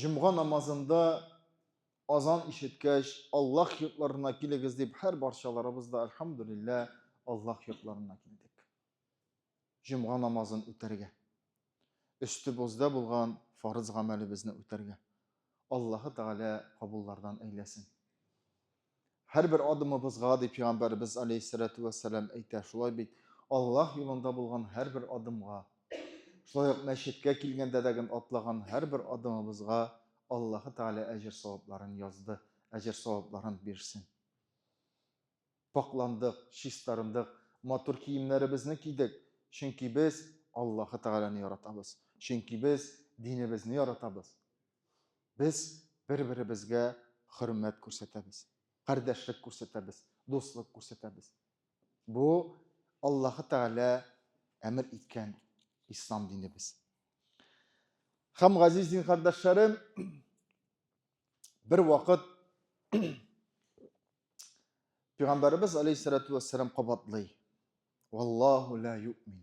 Җомга намазында азан ишеткәч, Аллаһ йортларына килегез дип һәр барчаларыбыз да альхамдулилла Аллаһ йортларына килдек. Җомга намазын үтәргә. Өстебездә булган фарыз гамәлебезне үтәргә. Аллаһы Тәгалә кабуллардан әйләсен. Һәрбер адымыбызга, ди Пәйгамбәребез алейһиссәләтү вәссәлам әйтә, шулай бит, Аллаһ юлында булган һәрбер адымга, шулай ук мәчеткә килгәндә дә гел атлаган һәрбер адымыбызга Аллаһы Тәгалә әҗер-савапларын язды, әҗер-савапларын бирсен. Пакъландык, чистарындык, матур киемнәребезне кидек, чөнки без Аллаһы Тәгаләне яратабыз, чөнки без динебезне яратабыз. Без бер-беребезгә хөрмәт күрсәтәбез, кардәшлек күрсәтәбез, дуслык күрсәтәбез. Бу Аллаһы Тәгалә әмер иткән ислам динебез. Хәм газиз дин кардәшләрем, бер вакыт Пәйгамбәрбез алейһиссалату вассалам кабатлый. Валлаху ла юмин.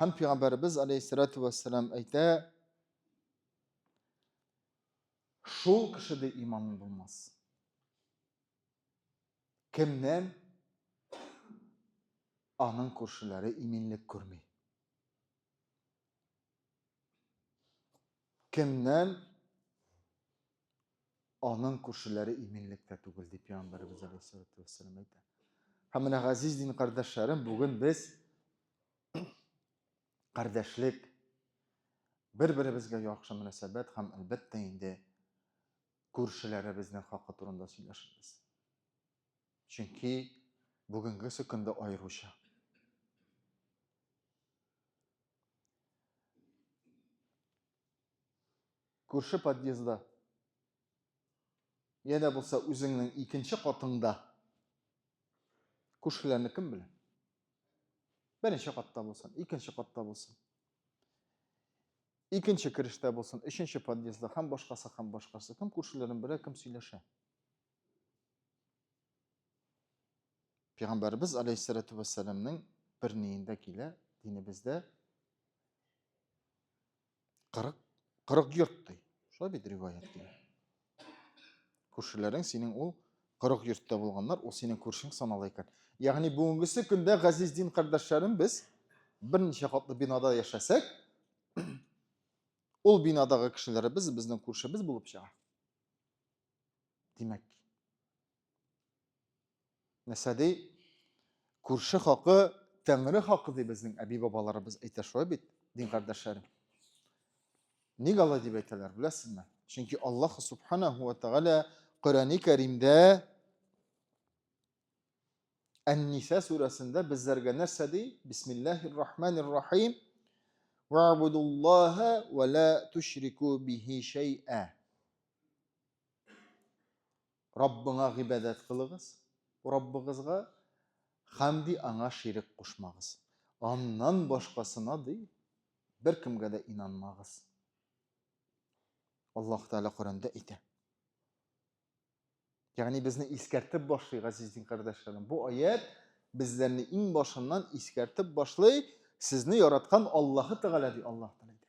Һәм пәйгамбәребез алейһиссалату вассалам әйтә, шул кешедә иманы булмас. Кемнән аның күршеләре иминлек күрми? Кемнән Аның күршеләре иминлектә түгел, дип Пәйгамбәребез алейһиссалату вәссәлам әйтә. Һәм менә газиз дин кардәшләрем, бүген без кардәшлек, бер-беребезгә яхшы мөнәсәбәт һәм әлбәттә инде күршеләребезнең хакы турында сөйләшәбез. Чөнки бүгенге көндә аеруча. Күрше подъездда. Я да булса үзеңнең икенче катыңда. Күршеләрне кем белә? Беренче катта булсын, икенче катта булсын. Икенче керештә булсын, өченче подъездда һәм башкасы һәм башкасы. Кем күршеләрен белә, кем сөйләшә? Пәйгамбәрбез алейһиссалату вассаламның бер ниендә килә, динебездә 40 40 йорт ди. Шулай бит риваят ди. Күршеләрең синең ул 40 йортта булганнар, ул синең күршең санала икән. Ягъни бүгенгесе көндә газиз дин кардәшләрем без берничә катлы бинада яшәсәк, ул бинадагы кешеләребез безнең күршебез булып чыга. Димәк, нәрсә ди? Күрше хакы Тәңре хакы ди безнең әби-бабаларыбыз әйтә шулай бит, дин кардәшләрем. Ник алай дип әйтәләр, беләсезме? Чөнки Аллаһ субханаһу ва тагала Коръәни Кәримдә Ән-Ниса сүрәсендә безләргә нәрсә ди? Бисмиллаһир рахманир рахим. Ва'будуллаһа ва ла тушрику бихи шайъа. Раббыңа гыйбадәт кылыгыз, Раббыгызга хәмди аңа ширек кушмагыз. Аннан башкасына ди бер кемгә дә инанмагыз. Аллаһ Тәгалә Коранда әйтә. Ягъни безне искәртеп башлый, газизин кардәшләрем. Бу аят безләрне иң башыннан искәртеп башлый, сезне яраткан Аллаһы Тәгалә ди Аллаһ Тәгалә.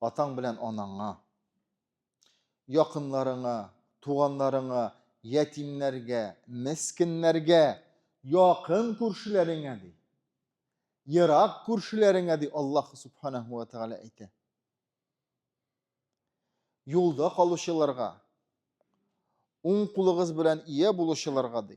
Атаң белән анаңа, якынларыңа, туганнарыңа, ятимнәргә, мескеннәргә, якын күршеләреңә ди. Ерак күршеләреңә ди Аллаһ Субханаһу ва Тәгалә әйтә. Юлда калучыларга, уң кулыгыз белән ия булучыларга ди.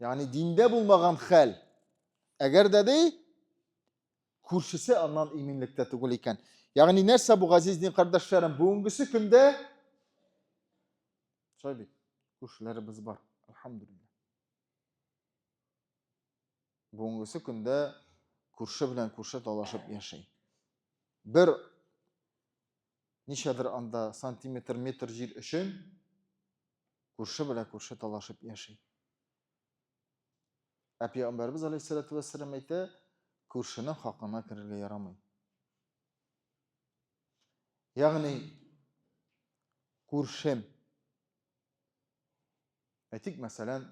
Ягъни диндә булмаган хәл. Әгәр дә ди күршесе аннан иминлектә түгел икән. Ягъни нәрсә бу газиз дин кардәшләрем? Бүгенгесе көндә шулай бит. Күршеләребез бар. Алхамдулилла. Бүгенгесе көндә күрше белән күрше талашып яши. Бер ничәдер анда сантиметр, метр җир өчен күрше белән күрше талашып яши. Ә пәйгамбәрбез алейһиссалату вәссәлам әйтә, күршенең хакына керергә ярамый. Ягъни күршем. Әйтик, мәсәлән,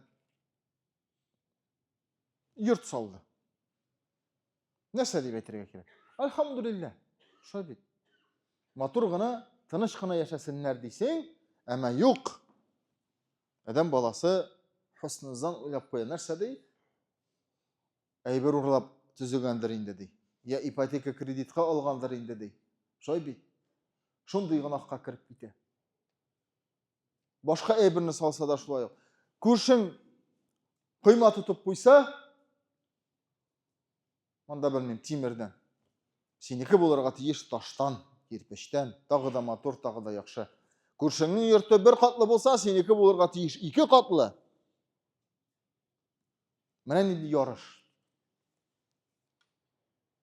йорт салды. Нәрсә дип әйтергә кирәк? Альхамдулиллә. Шулай бит. Матур гына, тыныч кына яшәсеннәр дисең, әмма юк. Адәм баласы хусныздан уйлап куя. Нәрсә ди? Әйбер урлап төзегәндер инде ди. Я ипотека кредитка алгандыр инде ди. Шулай бит. Шундый гынахка кереп китә. Башка әйберне салса да шулай ук. Күршең койма тотып куйса, монда белмим, тимердән. Синеке булырга тиеш таштан, кирпечтән, тагы да матур, тагы да яхшы. Күршеңнең йорты бер катлы булса, синеке булырга тиеш ике катлы. Менә нинди ярыш.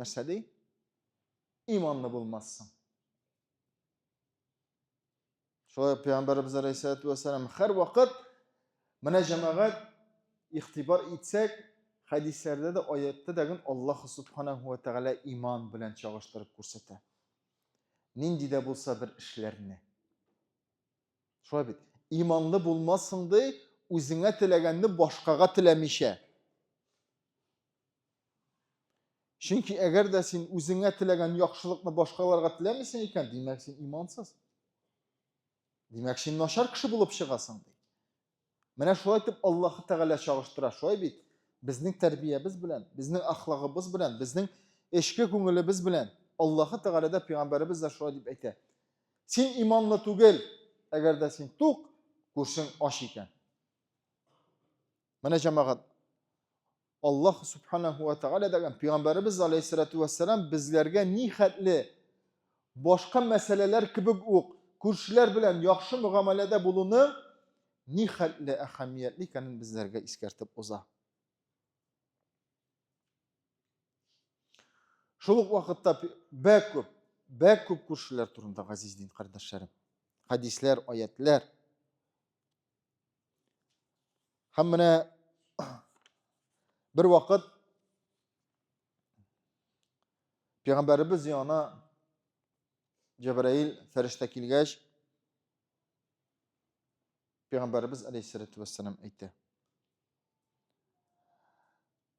Нәрсә ди? Иманлы булмассың. Шулай пәйгамбәребез алейхиссалату вассалам һәр вакыт менә җәмәгать игътибар итсәк, хәдисләрдә дә, аятта да гын Аллаһ субханаһу ва тәгалә иман белән чагыштырып күрсәтә. Нинди дә булса бер эшләрне. Шулай бит. Иманлы булмассың ди, үзеңә теләгәнне башкага теләмичә. Чөнки әгәр дә син үзеңә теләгән яхшылыкны башкаларга теләмисең икән, димәк син имансыз. Димәк син начар кеше булып чыгасың ди. Менә шулай итеп Аллаһ Тәгалә чагыштыра, шулай бит? Безнең тәрбиябез белән, безнең ахлагыбыз белән, безнең эчке күңелебез белән Аллаһ Тәгалә дә пәйгамбәребез дә шулай дип әйтә. Син иманлы түгел, әгәр дә син тук, күршең ач икән. Менә җәмәгать, Аллаһ Субханаху ва Тәгалә дәгән Пәйгамбәребез алейхиссалату вассалам безләргә ни хәтле башка мәсьәләләр кебек үк күршеләр белән яхшы мөгамәләдә булуны ни хәтле әһәмиятле икәнен безләргә искәртеп уза. Шул ук вакытта бәк күп, бәк күп күршеләр турында газиз дин кардәшләрем. Хәдисләр, аятләр, Һәм менә бер вакыт Пәйгамбәребез яна Җәбраил фәрештә килгәч, Пәйгамбәребез алейһиссалату вассалам әйтте.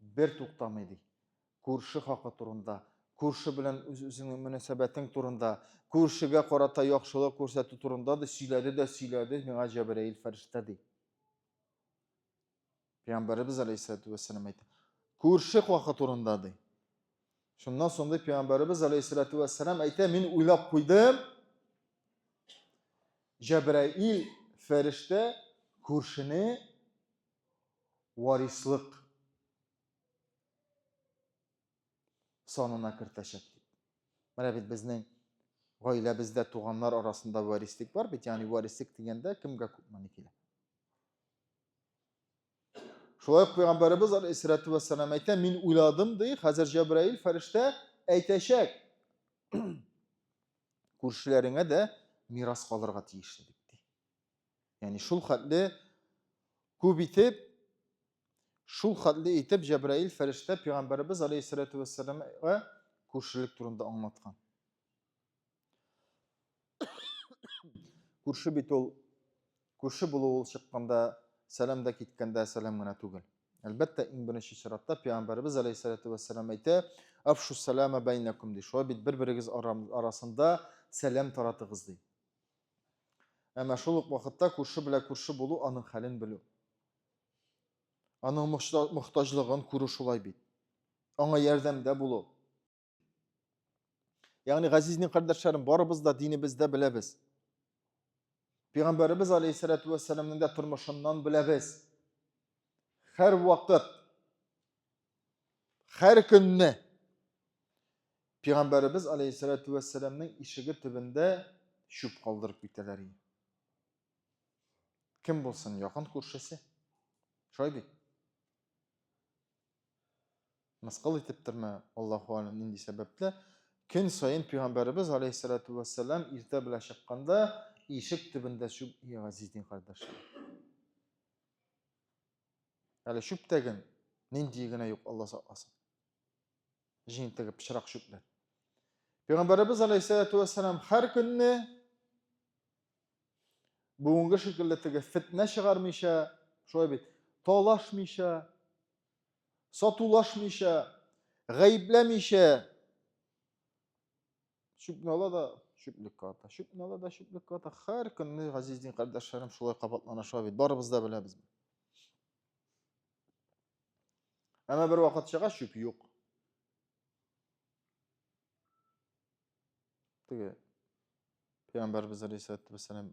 Бер туктамый, ди. Күрше хакы турында, күрше белән үз-үзеңнең мөнәсәбәтең турында, күршегә карата яхшылык күрсәтү турында да сөйләде дә сөйләде миңа Җәбраил фәрештә, ди. Пәйгамбәребез алейһиссәләтү вәссәлам әйтә. Күрше хакы турында, ди. Шуннан соң ди Пәйгамбәребез алейһиссәләтү вәссәлам әйтә, мин уйлап куйдым, Җәбраил фәрештә күршене варислык санына кертәчәк дип. Менә бит безнең гаиләбездә туганнар арасында варислык бар бит, ягъни варислык дигәндә кемгә күп мәни килә. Шулай ук пәйгамбәребез алейһиссалату вассалам әйтә, мин уйладым ди, хәзер Җәбраил фәрештә әйтәчәк. Күршеләреңә дә мирас калырга тиешле дип ди. Ягъни шул хәтле күп итеп шул хәтле итеп Җәбраил фәрештә пәйгамбәребез алейһиссәләтү вәссәламга күршелек турында аңлаткан. Күрше бит ул күрше булу ул чыкканда сәлам да киткәндә сәлам гына түгел. Әлбәттә, иң беренче чиратта пәйгамбәребез алейһиссәләтү вәссәлам әйтә, "Афшу салама бәйнәкум" ди. Шулай бит бер-берегез арасында сәлам таратыгыз ди. Әмма шул ук вакытта күрше белән күрше булу, аның хәлен белү. Аның мохтаҗлыгын күрү шулай бит. Аңа ярдәмдә булу. Ягъни, газиз дин кардәшләрем, барыбыз да динебездә беләбез. Пәйгамбәребез алейһиссәләтү вәссәламның да тормышыннан беләбез. Һәрвакыт Хәр көнне Пәйгамбәребез алейһиссәләтү вәссәламнең ишеге төбендә чүп калдырып китәләр иде. Кем булсын, якын күршесе? Шулай бит. Мыскыл итептирме, Аллаһу алим, нинди сәбәпле? Көн саен Пәйгамбәребез алейһиссәләтү вәссәлам иртә белән чыкканда ишек төбендә чүп ия газиз дин кардәшләр. Әле чүптәген нинди генә юк Алла сакласын. Җентеге пычрак чүпләр. Пәйгамбәребез алейһиссәләту вәссәлам һәр көнне бүгенге шикелле теге фетнә чыгармыйча, шулай бит, талашмыйча, сатулашмыйча, гаепләмичә Чүпне ала да чүплеккә ата. Чүпне ала да чүплеккә ата. Һәр көнне газиз дин кардәшләрем шулай кабатланыша бит. Барыбыз да беләбез. Әмма бер вакыт чыга чүп юк. Теге пәйгамбәрбез алейхиссалату вассалам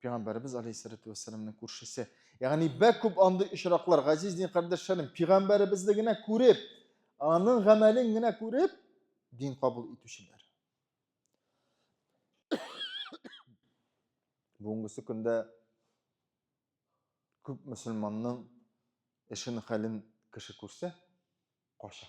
Пәйгамбәребез алейһиссәләтү вәссәламның күршесе. Ягъни бәк күп андый очраклар, газиз дин кардәшләрем, пәйгамбәребезне генә күреп, аның гамәлен генә күреп, дин кабул итүчеләр. Бүгенгесе көндә күп мөселманның эшен хәлен кеше күрсә, каша.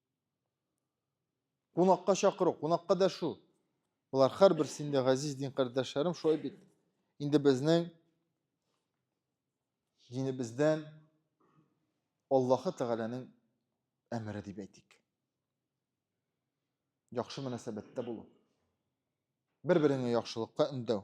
Кунакка чакыру, кунакка дәшү. Болар хәр берсендә газиз дин кардәшләрем шулай бит. Инде безнең динебездән Аллаһы Тәгаләнең әмере дип әйтик. Яхшы мөнәсәбәттә булу. Бер-береңә яхшылыкка өндәү.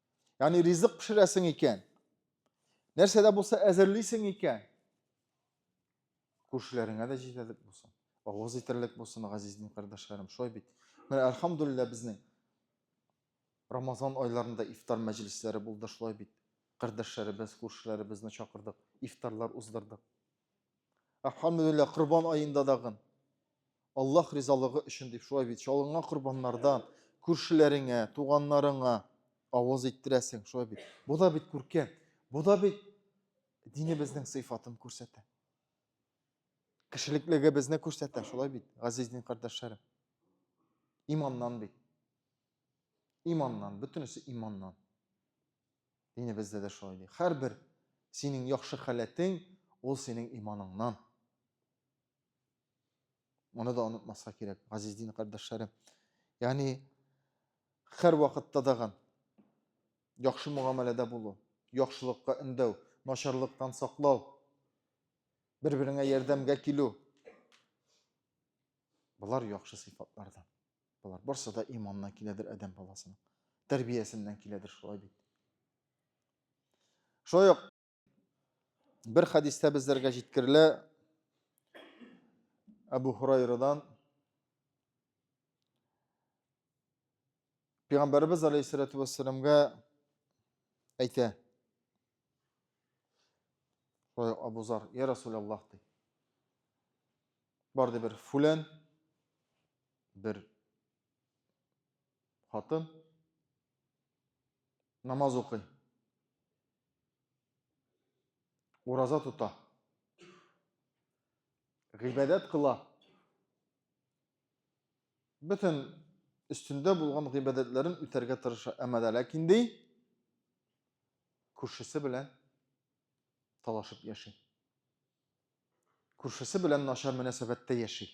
Яни ризык пешерәсең икән. Нәрсә дә булса әзерлисең икән. Күршеләреңә дә җитәрлек булсын. Авыз итәрлек булсын, газиз дин кардәшләрем. Шулай бит. Менә әлхәмдулилла безнең Рамазан айларында ифтар мәҗлесләре булды шулай бит. Кардәшләребез, күршеләребезне чакырдык, ифтарлар уздырдык. Әлхәмдүлилләһ, корбан аенда дагын. Аллаһ ризалыгы өчен дип шулай бит. Чалынган корбаннардан күршеләреңә, туганнарыңа авыз иттерәсең, шулай бит. Бу да бит күркәм. Бу да бит динебезнең сыйфатын күрсәтә. Кешелеклегебезне күрсәтә, шулай бит, газиз дин кардәшләрем. Иманнан бит. Иманнан, бөтенесе иманнан. Дини бездә дә шулай ди. Хәрбер синең яхшы халәтең, ул синең иманыңнан. Моны да онытмаска кирәк, газиз дин кардәшләрем. Ягъни хәр вакытта дагы яхшы мөгамәләдә булу, яхшылыкка өндәү, начарлыктан саклау, бер-береңә ярдәмгә килү. Болар яхшы сыйфатлардан. Болар барсы да иманнан киләдер адәм баласының. Тәрбиясеннән киләдер шулай бит. Шулай ук бер хәдистә безләргә җиткерелә Әбу Хурайрадан Пәйгамбәрбез алейһиссалату вассаламга әйтә. Шулай Абу Зар, я Расул Аллах ди. Барды бер фулән, бер хатын намаз укый. Ураза тота. Гыйбадәт кыла. Бөтен өстендә булган гыйбадәтләрен үтәргә тырыша. Әмма дә ләкин ди, Күршесе белән талашып яши. Күршесе белән начар мөнәсәбәттә яши.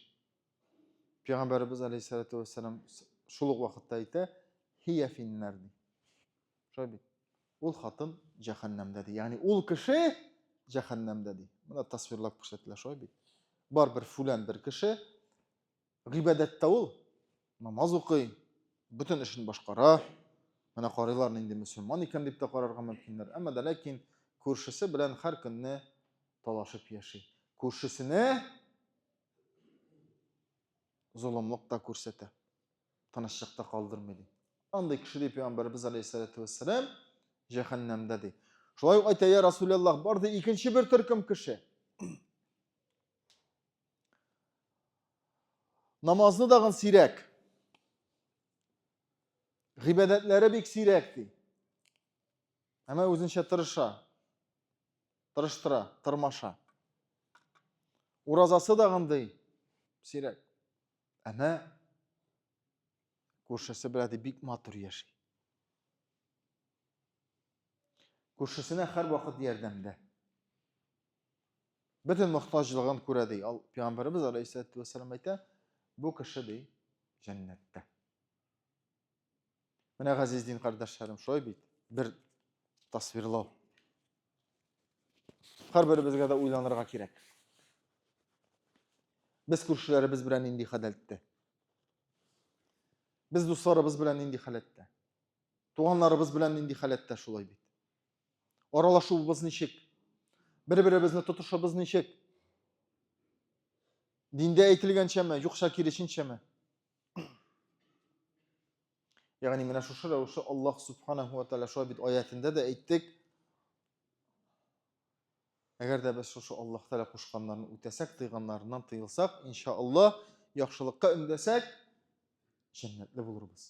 Пәйгамбәребез алейһиссалату вассалам шул ук вакытта әйтә, хия финнар ди. Шулай бит. Ул хатын җәһәннәмдә ди. Ягъни ул кеше җәһәннәмдә ди. Моны тасвирлап күрсәтелә шулай бит. Бар бер фүлән бер кеше гыйбадәттә ул намаз укый бөтен эшен башкара менә карыйлар нинди мөселман икән дип тә карарга мөмкиннәр әмма дә ләкин күршесе белән һәр көнне талашып яши күршесенә золымлык та күрсәтә тынычлыкта калдырмый ди андый кеше ди пәйгамбәребез алейхиссалату вассалам җәһәннәмдә ди шулай ук әйтә я расулаллах бар ди икенче бер төркем кеше Намазны дагын сирәк. Гыйбадәтләре бик сирәк ди. Әмма үзенчә тырыша. Тырыштыра, тырмаша. Уразасы дагын ди сирәк. Әмма күршесе белән бик матур яши. Күршесенә һәр вакыт ярдәмдә. Бөтен мохтаҗлыгын күрә, ди. Ал Пәйгамбәребез алейһиссәләтү вәссәлам әйтә, бу кеше ди җәннәттә. Менә газиз дин кардәшләрем, шулай бит. Бер тасвирлау. Һәрберебезгә дә уйланырга кирәк. Без күршеләребез белән нинди халәттә? Без дусларыбыз белән нинди халәттә? Туганнарыбыз белән нинди халәттә шулай бит. Аралашуыбыз ничек? Бер-беребезне тотышыбыз ничек? Диндә әйтелгәнчәме, юкса киресенчәме? Ягъни менә шушы рәвешле Аллаһ субханаһу ва тааля шулай бит аятында да әйттек. Әгәр дә без шушы Аллаһ тааля кушканнарын үтәсәк, тыйганнарыннан тыелсак, иншааллаһ, яхшылыкка өндәсәк, җәннәтле булырбыз.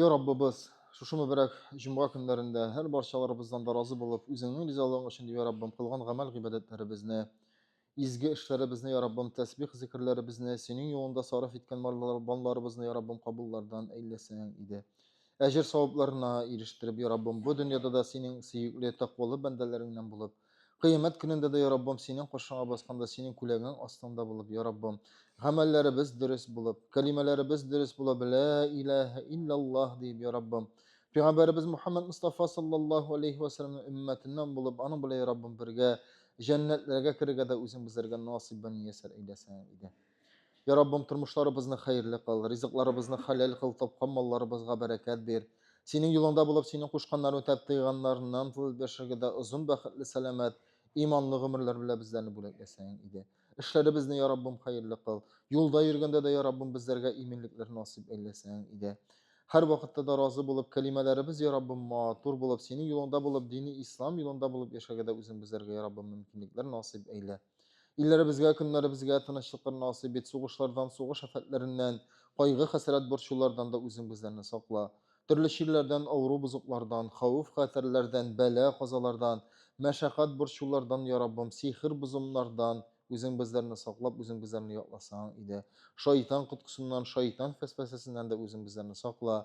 Я Раббыбыз, шушы мөбәрәк җомга көннәрендә һәр барчаларыбыздан да разы булып, үзеңнең ризалыгың өчен, дип, я Раббым, кылган гамәл гыйбадәтләребезне, изге эшләребезне, я Раббым, тәсбих зикерләребезне, синең юлында сарыф иткән малларыбызны, я Раббым, кабуллардан әйләсәң иде. Әҗер савапларына ирештереп, я Раббым, бу дөньяда да синең сөекле, тәкъвалы бәндәләреңнән булып, Кыямәт көнендә дә, я Раббым, синең каршыңа басканда, синең күләгең астында булып, я Раббым, гамәлләребез дөрес булып, кәлимәләребез дөрес булып, лә иләһә иллаллаһ диеп, я Раббым, Пәйгамбәребез Мухаммад Мустафа саллаллаху алейхи ва саллямның өммәтеннән булып, аның белән, я Раббым, бергә җәннәтләргә керергә дә үзең безләргә насыйбын миясәр әйләсәң иде. Я Раббым, тормышларыбызны хәерле кыл, ризыкларыбызны хәләл кыл, тапкан малларыбызга бәрәкәт бир. Синең юлыңда булып, синең кушканнарын үтәп, тыйганнарыннан тылып яшәргә дә озын бәхетле, сәламәт, иманлы гомерләр белән безләрне бүләкләсәң иде. Эшләребезне, я Раббым, хәерле кыл. Юлда йөргәндә дә, я Раббым, безләргә иминлекләр насыйп әйләсәң иде. Һәрвакытта да разый булып, кәлимәләребез, я Раббым, матур булып, синең юлыңда булып, дине ислам юлында булып яшәргә дә үзең безләргә, я Раббым, мөмкинлекләр насыйп әйлә. Илләребезгә, көннәребезгә тынычлыклар насыйп ит, сугышлардан, сугыш афәтләреннән, кайгы-хәсрәт борчулардан да үзең безләрне сакла. Төрле чирләрдән, авыру бозыклардан, хәвеф-хәтәрләрдән, бәла-казалардан, мәшәкать борчулардан, я Раббым, сихер-бозымнардан үзең безләрне саклап, үзең безләрне якласаң иде. Шайтан коткысыннан, шайтан фәсфәсәсеннән дә үзең безләрне сакла.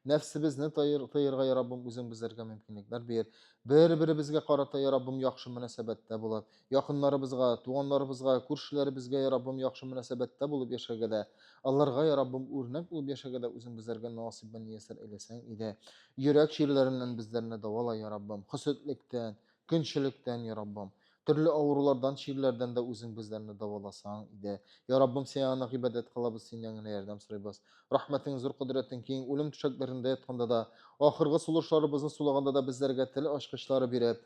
Нәфсебезне тайыр, тыерга, я Раббым, үзең безләргә мөмкинлекләр бир. Бер-беребезгә карата, я Раббым, яхшы мөнәсәбәттә булып, Якыннарыбызга, туганнарыбызга, күршеләребезгә, я Раббым, яхшы мөнәсәбәттә булып яшәргә дә, аларга, я Раббым, үрнәк булып яшәргә дә Үзең безләргә насыйбын мияссәр әйләсәң иде. Йөрәк чирләреннән безләрне дәвала, я Раббым, хөсетлектән, көнчелектән, я Раббым. Төрле авырулардан, чирләрдән дә Үзең безләрне дәваласаң иде. Я Раббым, Сиңа гына гыйбадәт кылабыз, Синнән генә ярдәм сорыйбыз. Рәхмәтең зур, кодрәтең киң, үлем түшәкләрендә ятканда да, ахыргы сулышларыбызны сулаганда да безләргә тел ачкычлары биреп,